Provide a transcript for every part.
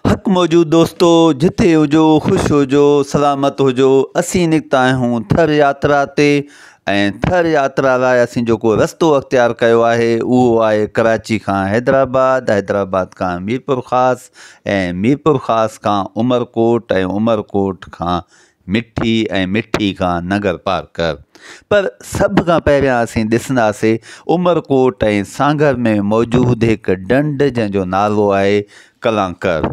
حق موجود دوستو جتي هجو خوش هجو سلامت هجو اسين نڪتا آهيون ٿر ياترا تي ۽ ٿر ياترا لاء اسين جيڪو رستو اختيار ڪيو آهي اهو آهي ڪراچي کان حيدرآباد حيدرآباد کان ميرپورخاص ۽ ميرپورخاص کان عمرڪوٽ ۽ عمرڪوٽ کان مٺي ۽ مٺي کان ننگر پار ڪر. پر سڀ کان پهريان اسين ڏسنداسين عمرڪوٽ ۽ سانگهر ۾ موجود هڪ ڍنڍ جنهن جو نالو آهي ڪلانڪر.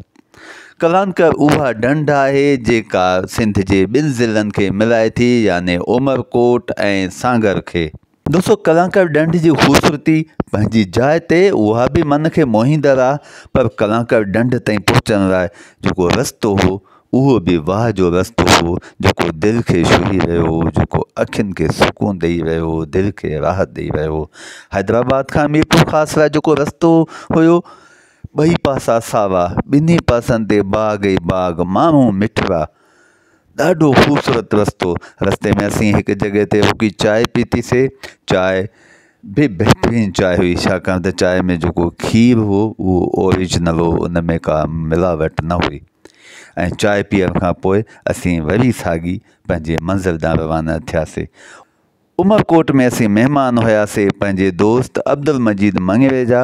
ڪلانڪر اها ڍنڍ آهي جيڪا سنڌ جي ٻن ضلعن کي ملائي ٿي يعني عمرڪوٽ ۽ سانگهر کي. دوستو ڪلانڪار ڏنڍ جي خوبصورتي پنهنجي جاء تي اها به من کي موهيندڙ آهي پر ڪلانڪار ڏنڍ تائين پهچڻ لاء جيڪو رستو هو اهو به واهه جو رستو هو جيڪو دل کي ڇهي رهيو هو جيڪو اکين کي سڪون ڏئي رهيو هو دل کي راحت ڏئي رهيو هو حيدرآباد کان ميرپور خاص لاء جيڪو رستو هيو ٻئي پاسا ساوا ٻنهي پاسن تي باغ ئي باغ ماڻهو مٺڙا ڏاڍو خوبصورت رستو رستي ۾ اسين هڪ جڳهه تي رڪي چائي پيتيسين چائي به بهترين چائي هئي ڇاڪاڻ ته چائي ۾ جيڪو کير هو اهو اوريجنل هو ان ۾ ڪا ملاوٽ نه هئي ۽ چائي پيئڻ کان پوء اسين وري ساڳي پنهنجي منزل ڏانهن روانا ٿياسين عمرڪوٽ ۾ اسين مهمان هياسين پنهنجي دوست عبدالمجيد مڱري جا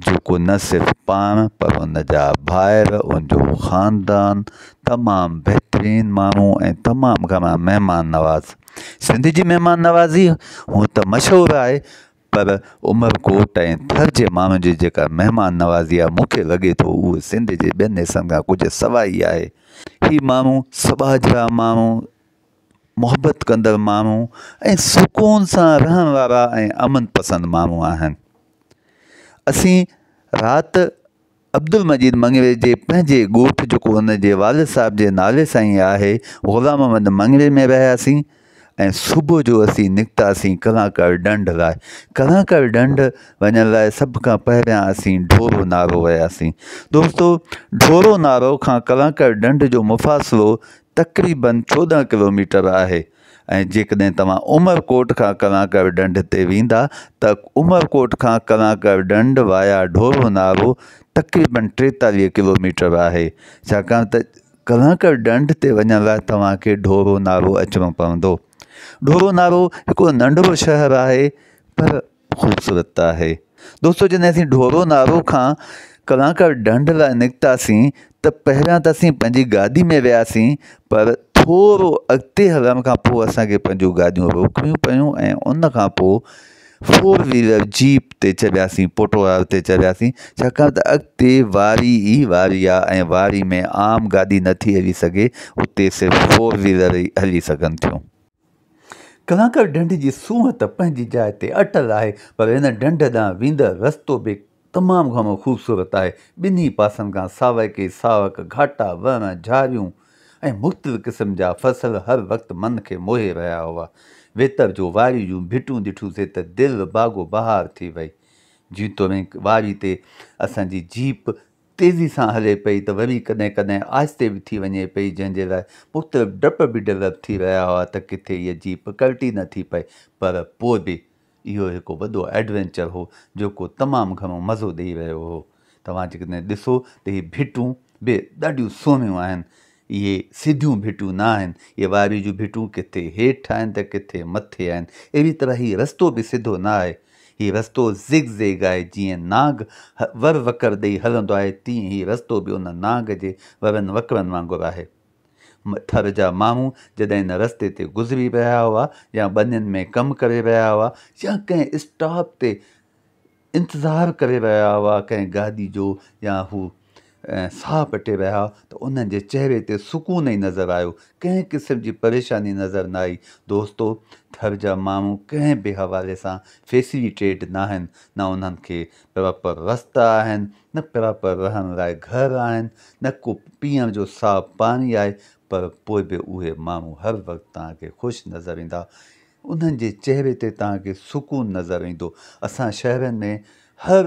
جيڪو نه صرف پاڻ پر ان جا ڀائر، ان جو خاندان تمام بهترين ماڻهو ۽ تمام گهڻا مهمان نواز. سنڌ جي مهمان نوازي هونء ته مشهور آهي پر عمرڪوٽ ۽ ٿر جي ماڻهن جي جيڪا مهمان نوازي آهي مون کي لڳي ٿو اهو سنڌ جي ٻين حصن کان ڪجهه سواء ئي آهي. هي ماڻهو سٻاجهڙا ماڻهو، محبت ڪندڙ ماڻهو ۽ سڪون سان رهڻ وارا ۽ امن پسند ماڻهو آهن. اسين رات عبدالمجيد مڱري جي پنهنجي ڳوٺ جيڪو هن جي والد صاحب جي نالي سان ئي آهي غلام محمد مڱري ۾ رهياسين ۽ صبح جو اسين نڪتاسين ڪلانڪار ڍنڍ لاء ڪلانڪار ڍنڍ وڃڻ لاء سڀ کان پهريان اسين ڍورو نارو وياسين دوستو ڍورو نارو کان ڪلانڪار ڍنڍ جو مفاصلو تقريبن چوڏهن ڪلوميٽر آهي ۽ جيڪڏهن توهان عمر ڪوٽ کان ڪلانڪر ڍنڍ تي ويندا ته عمر ڪوٽ کان ڪلانڪر ڍنڍ وايا ڍورو نارو تقريبن ٽيتاليهه ڪلوميٽر آهي ڇاڪاڻ ته ڪلانڪر ڍنڍ تي وڃڻ لاء توهان کي ڍورو نارو اچڻو پوندو ڍورو نارو هڪڙو ننڍڙو شهر آهي پر خوبصورت آهي دوستو جڏهن اسين ڍورو نارو کان ڪلاڪر ڍنڍ لاء نڪتاسين ته پهريان ته اسين پنهنجي گاڏي ۾ وياسين پر ٿورو اڳتي هلڻ کان پوء اسان کي پنهنجون گاڏيون روڪڻيون پيون ۽ ان کان پوء فور ويلر جيپ تي چڙهياسين پوٽوار تي چڙهياسين ڇاڪاڻ ته اڳتي واري ئي واري آهي ۽ واري ۾ عام گاڏي نٿي هلي سگهي اتي صرف فور ويلر ئي هلي سگهن ٿيون ڪلانڪر ڍنڍ جي سونهن ته پنهنجي جاء تي اٽل آهي پر هن ڍنڍ ڏانهن ويندڙ رستو به تمام گهڻو خوبصورت آهي. ٻنهي پاسن کان ساويڪي ساوڪ گهاٽا، وڻ، جهاريون ۽ مختلف قسم جا فصل هر وقت من کي موهي رهيا هئا. ويتر جو واري جون ڀٽون ڏٺوسين ته دل باغو بهار ٿي وئي. جيتوڻيڪ واري تي اسان جي جيپ تيزي سان هلي پئي ته وري ڪڏهن ڪڏهن آهستي به ٿي وڃي پئي جنهن جي لاء مختلف ڊپ به ڊولپ ٿي رهيا هئا ته ڪٿي هيء جيپ ڪلٽي نه ٿي پئي پر پوء به اهو هڪ وڏو ايڊوينچر هو جيڪو تمام گهڻو مزو ڏئي رهيو هو توهان جيڪڏهن ڏسو ته هي ڀٽون به ڏاڍيون سهڻيون آهن اهي سڌيون ڀٽيون نه آهن، اهي واريء جون ڀٽيون ڪٿي هيٺ آهن ته ڪٿي مٿي آهن. اهڙيء طرح هي رستو به سڌو نه آهي. هي رستو زگ زيگ آهي. جيئن نانگ ور وڪر ڏيئي هلندو آهي، تيئن هي رستو به ان نانگ جي ورن وڪرن وانگر آهي. ٿر جا ماڻهو جڏهن ان رستي تي گذري رهيا هئا يا ٻنين ۾ ڪم ڪري رهيا هئا يا ڪنهن اسٽاپ تي انتظار ڪري رهيا هئا ڪنهن گاڏي جو يا هو ساهه پٽي رهيا هئا ته انهن جي چهري تي سڪون ئي نظر آيو، ڪنهن قسم جي پريشاني نظر نه آئي. دوستو! ٿر جا ماڻهو ڪنهن به حوالي سان فيسليٽيڊ ناهن، نه انهن کي پراپر رستا آهن، نه پراپر رهڻ لاء گهر آهن، نه ڪو پيئڻ جو صاف پاڻي آهي، پر پوء به اهي ماڻهو هر وقت توهان کي خوش نظر ايندا، انهن جي چهري تي توهان کي سڪون نظر ايندو. اسان شهرن ۾ هر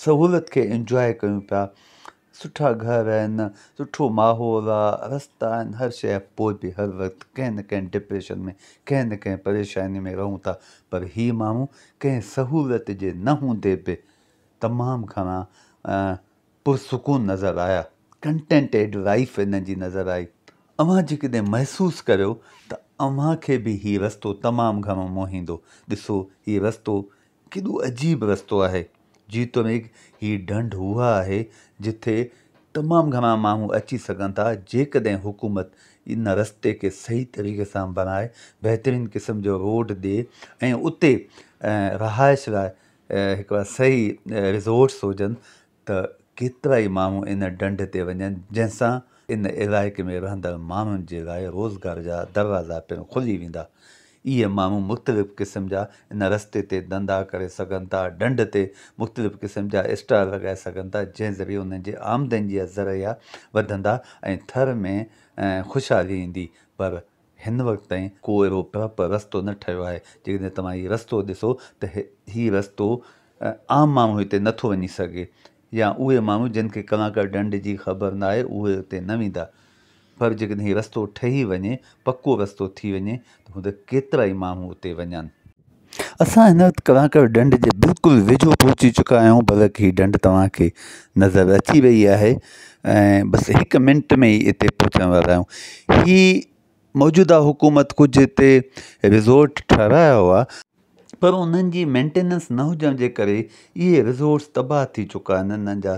سهولت کي انجواء ڪيون پيا. سٺا گهر آهن، سٺو ماحول آ، رستا آهن، هر شيء آهي پوء به هر وقت ڪنهن نه ڪنهن ڊپريشن ۾ ڪنهن نه ڪنهن پريشاني ۾ رهون ٿا پر هي ماڻهو ڪنهن سهولت جي نه هوندي به تمام گهڻا پرسڪون نظر آيا، Contented Life انهن جي نظر آئي، اوهان جيڪڏهن محسوس ڪريو ته اوهان کي به هي رستو تمام گهڻو موهيندو، ڏسو هي رستو ڪيڏو عجيب رستو آهي، جيتوڻيڪ هي ڍنڍ اها آهي جتي تمام گهڻا ماڻهو اچي سگهن ٿا، جيڪڏهن حڪومت ان رستي کي صحيح طريقي سان بڻائي، بهترين قسم جو روڊ ڏي ۽ اتي رهائش لاء هڪڙا صحيح رزورٽس هجن ته ڪيترا ئي ماڻهو ان ڍنڍ تي وڃن جنهن سان ان علائقي ۾ رهندڙ ماڻهن جي لاء روزگار جا دروازا پڻ کلي ويندا. اهي ماڻهو مختلف قسم جا ان رستي تي ڌنڌا ڪري سگهن ٿا، ڍنڍ تي مختلف قسم جا اسٽال لڳائي سگهن ٿا جنهن ذريعي انهن جي آمدني جا ذريعا وڌندا ۽ ٿر ۾ خوشحالي ايندي پر هن وقت تائين ڪو اهڙو پراپر رستو نه ٺهيو آهي، جيڪڏهن توهان هي رستو ڏسو ته هي رستو عام ماڻهو هتي نه ٿو وڃي سگهي يا اهي ماڻهو جن کي ڪلاڪر ڍنڍ جي خبر نه آهي اهي اتي نه ويندا پر جيڪڏهن هي رستو ٺهي وڃي، پڪو رستو ٿي وڃي ته هوند ڪيترائي ماڻهو اتي وڃن. اسان هن وقت ڪراڪر ڍنڍ جي بلڪل ويجهو پهچي چڪا آهيون بلڪ هي ڍنڍ توهان کي نظر اچي رهي آهي ۽ بس هڪ منٽ ۾ ئي اتي پهچڻ وارا آهيون هي موجوده حڪومت ڪجهه اتي رزورٽ ٺهرايا هئا پر انهن جي مينٽيننس نه هجڻ جي ڪري اهي رزورٽس تباهه ٿي چڪا آهن انهن جا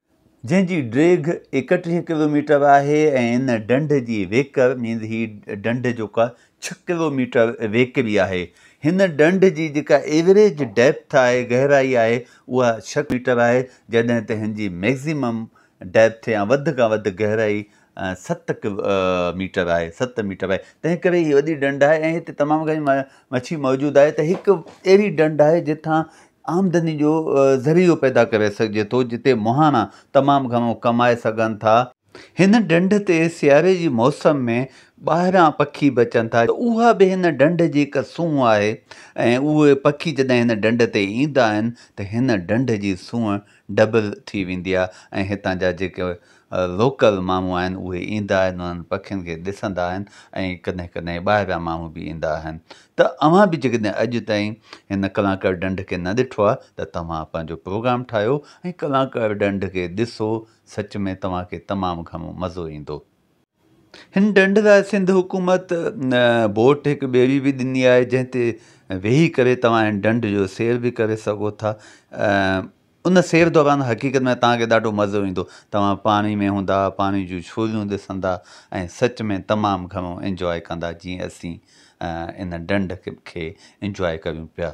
جنهن جي ڊيگهه ايڪٽيهه ڪلوميٽر آهي ۽ ان ڍنڍ جي ويڪر مينز هي ڍنڍ جيڪا ڇهه ڪلوميٽر ويڪري آهي. هن ڍنڍ جي جيڪا ايوريج ڊيپٿ آهي، گهرائي آهي، اها ڇهه ميٽر آهي، جڏهن ته هن جي ميڪزيمم ڊيپٿ يا وڌ کان وڌ گهرائي ست ميٽر آهي ست ميٽر آهي تنهن ڪري هي وڏي ڊنڊ آهي ۽ هتي تمام گهڻي مڇي موجود آهي ته هڪ اهڙي ڊنڊ آهي جتان آمدني جو ذريعو پيدا ڪري سگهجي ٿو جتي مهاڻا تمام گهڻو ڪمائي سگهن ٿا. هن ڊنڍ تي سياري جي موسم ۾ ٻاهران پکي به اچن ٿا ته اها به هن ڊنڍ جي هڪ سونهن آهي ۽ اهي پکي جڏهن هن ڊنڍ تي ايندا آهن ته هن ڊنڍ جي سونهن ڊبل ٿي ويندي آهي ۽ هتان جا جيڪي لوڪل ماڻهو آهن اهي ايندا آهن انهن پکين کي ڏسندا آهن ۽ ڪڏهن ڪڏهن ٻاهريان ماڻهو به ايندا آهن ته اوهان به جيڪڏهن اڄ تائين هن ڪلانڪر ڍنڍ کي نه ڏٺو آهي ته توهان پنهنجو پروگرام ٺاهيو ۽ ڪلانڪر ڍنڍ کي ڏسو سچ ۾ توهان کي تمام گهڻو مزو ايندو. هن ڍنڍ لاء سنڌ حڪومت بوٽ هڪ ٻيڙي به ڏني آهي جنهن تي ويهي ڪري توهان هن ڍنڍ جو سير به ڪري سگهو ٿا ان سير دوران حقيقت ۾ توهان کي ڏاڍو مزو ايندو توهان پاڻي ۾ هوندا پاڻي جون ڇوليون ڏسندا ۽ سچ ۾ تمام گهڻو انجواء ڪندا جيئن اسين ان ڍنڍ کي انجواء ڪريون پيا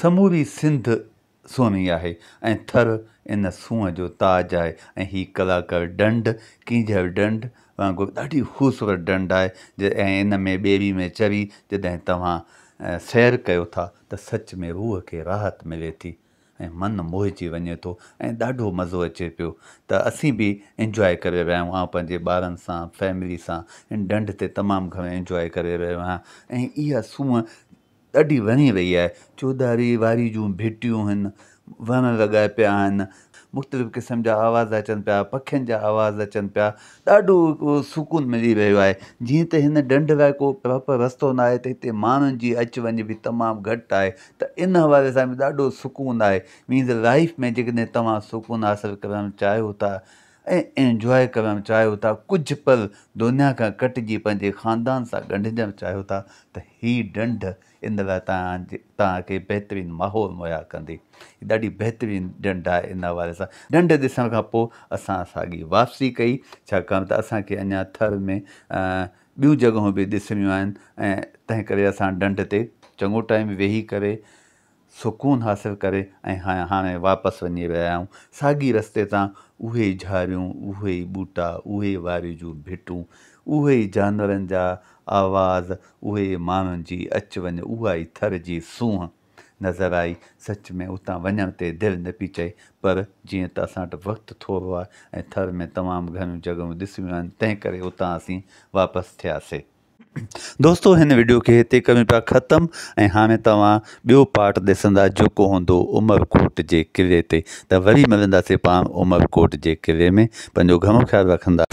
سموري سنڌ سونهي آهي ۽ ٿر ان سونهن جو تاج آهي ۽ هي ڪلاڪر ڍنڍ ڪينجهر ڍنڍ وانگر ڏاڍي خوبصورت ڍنڍ آهي ۽ ان ۾ ٻيري ۾ چڙهي جڏهن توهان سير ڪيو ٿا ته سچ ۾ روح کي راحت ملي ٿي ۽ من موهجي وڃي ٿو ۽ ڏاڍو مزو اچي پيو ته اسين به انجواء ڪري رهيا آهيون آئون پنهنجي ٻارن سان فيملي سان ان ڍنڍ تي تمام گهڻو انجواء ڪري رهيو آهيان ۽ اها سونهن ڏاڍي وڻي رهي آهي چوڌاري واري جون ڀيٽيون هن وڻ لڳا پيا آهن مختلف قسم جا آواز اچن پيا پکين جا آواز اچن پيا ڏاڍو سڪون ملي رهيو آهي جيئن ته هن ڍنڍ لاء ڪو پراپر رستو نه آهي ته هتي ماڻهن جي اچ وڃ به تمام گهٽ آهي ته ان حوالي سان به ڏاڍو سڪون آهي مينز لائيف ۾ جيڪڏهن توهان سڪون حاصل ڪرڻ چاهيو ٿا ۽ انجواء ڪرڻ چاهيو ٿا، ڪجهه پل دنيا کان ڪٽجي پنهنجي خاندان سان ڳنڍجڻ چاهيو ٿا ته هي ڏنڍ ان لاء توهان کي بهترين ماحول مهيا ڪندي. هي ڏاڍي بهترين ڏنڍ آهي ان حوالي سان ڏنڍ ڏسڻ کان پوء اسان ساڳي واپسي ڪئي ڇاڪاڻ ته اسان کي اڃا ٿر ۾ ٻيون جڳهون به ڏسڻيون آهن ۽ تنهن ڪري اسان ڏنڍ تي چڱو ٽائيم ويهي ڪري سڪون حاصل ڪري ۽ هاڻي واپس وڃي رهيا آهيون. ساڳي رستي تان اهي ئي جهاريون، اهي ئي ٻوٽا، اهي ئي واري جون ڀٽون، اهي ئي جانورن جا آواز، اهي ئي ماڻهن جي اچ وڃ، اها ئي ٿر جي سونهن نظر آئي. سچ ۾ اتان وڃڻ تي دل نه پئي چئي، پر جيئن ته اسان وٽ وقت ٿورو آهي ۽ ٿر ۾ تمام گهڻيون جڳهيون ڏسڻيون آهن، تنهنڪري اتان اسين واپس ٿياسين. دوستو هن وڊيو کي هتي ڪريون پيا ختم ۽ هاڻي توهان ٻيو پارٽ ڏسندا جيڪو هوندو عمرڪوٽ جي قلعي تي ته وري ملنداسي پاڻ عمرڪوٽ جي قلعي ۾ پنهنجو گهڻو خيال رکندا.